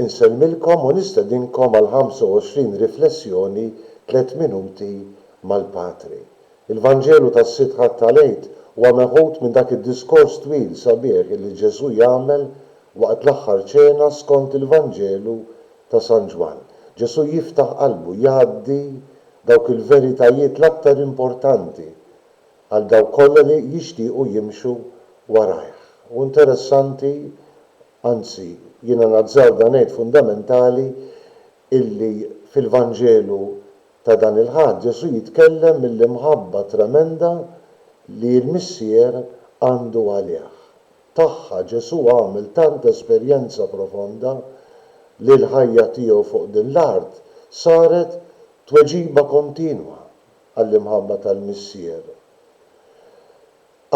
Insemmilkom u nistedinkom għal 25 riflessjoni tliet minuti mal-Patri. Il-Vanġelu tas-Sitt Ħadd tal-Għid huwa meħud minn dak id-diskors twil sabiħ illi Ġesù jagħmel waqt l-Aħħar Ċena skont il-Vanġelu ta' San Ġwann. Ġesù jiftaħ qalbu, jgħaddi dawk il-veritajiet l-aktar importanti għal dawk kollha li jixtiequ jimxu warajh. U interessanti, anzi, jiena nazzard da ngħid fundamentali, illi fil-Vanġelu ta' dan il-Ħadd Ġesù jitkellem mill-imħabba tremenda li l-Missier għandu għalih. Tagħha Ġesù għamel tant esperjenza profonda li l-ħajja tiegħu fuq din l-art saret tweġiba kontinwa għall-imħabba tal-Missier.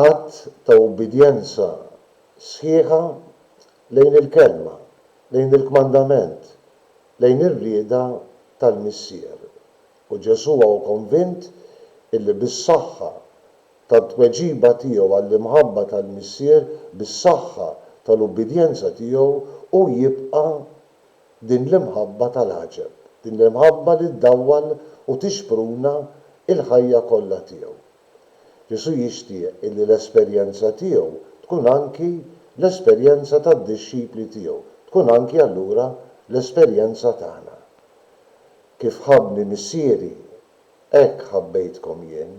Att ta' ubbidjenza sħiħa lejn il-Kelma, lejn il-kmandament, lejn ir-rieda tal-Missier. U Ġesù hawn konvint illi bis-saħħa tat-tweġiba tiegħu għall-imħabba tal-Missier, bis-saħħa tal-ubbidjenza tiegħu, hu jibqa' din l-imħabba tal-għaġeb, din l-imħabba li ddawwal u tixpruna l-ħajja kollha tiegħu. Ġesù jixtieq illi l-esperjenza tiegħu tkun anki l-esperjenza tad-dixxipli tiegħu, tkun anki allura l-esperjenza tagħna. Kif ħabbni Missieri, hekk ħabbejtkom jien.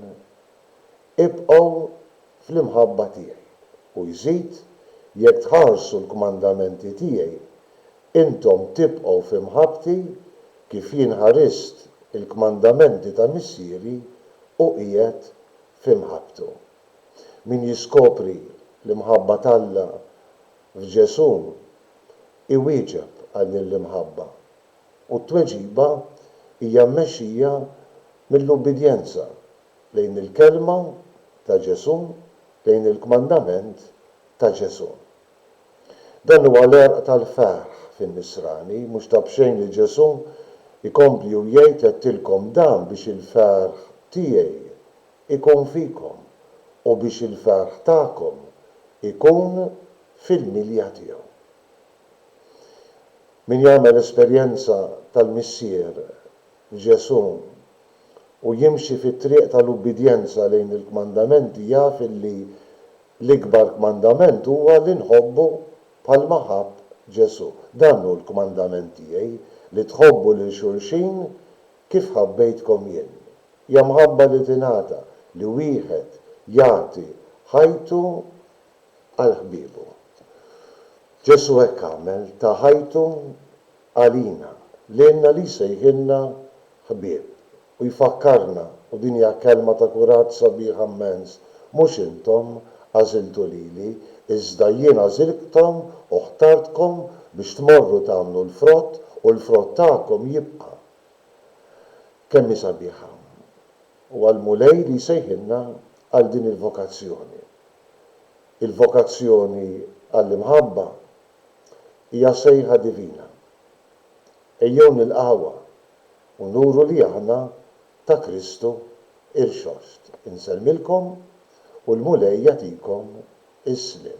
Ibqgħu fl-imħabba tiegħi. U jżid, Jekk tħarsu l-kmandamenti tiegħi, intom tibqgħu fi mħabbti, kif jien ħarist il-kmandamenti ta' Missieri u qiegħed fi mħabbtu. Min jiskopri l-imħabba t'Alla f'Ġesù iwieġeb għal din l-imħabba, u t-tweġiba hija mmexxija mill-ubbidjenza. lejn il-kelma ta' Ġesù, lejn il-kmandament ta' Ġesù. Dan huwa l-għerq tal-ferħ fin-Nisrani, mhux ta' b'xejn li Ġesù jkompli u jgħid għedtilkom dan biex il-ferħ tiegħi jkun fikom u biex il-ferħ tagħkom ikun fil-milja tiegħu. Min jagħmel esperjenza tal-Missier, Ġesù, u jimxi fit-triq tal-ubbidjenza lejn il-kmandamenti jaf illi l-ikbar kmandament huwa li nħobbu bħalma ħabb Ġesù. Dan hu l-kmandament tiegħi, li tħobbu lil xulxin kif ħabbejtkom jien. Hija mħabba li tingħata, li wieħed jagħti ħajtu għal ħbiebu. Ġesù hekk għamel, ta ħajtu għalina, lilna li jsejħilna ħbieb u jfakkarna, u din hija kelma ta' kuraġġ sabiħa mmens, mhux intom għażiltu lili, iżda jien għażiltkom u ħtartkom biex tmorru tagħmlu l-frott u l-frott tagħkom jibqa'. Kemm hi sabiħa. Huwa l-Mulej li jsejħilna għal din il-vokazzjoni. Il-vokazzjoni għall-imħabba hija sejħa divina. Ejjew nilqgħuha u nuru li aħna ta' Kristu Irxoxt. Insellmilkom u l-Mulej jagħtikom is-sliem.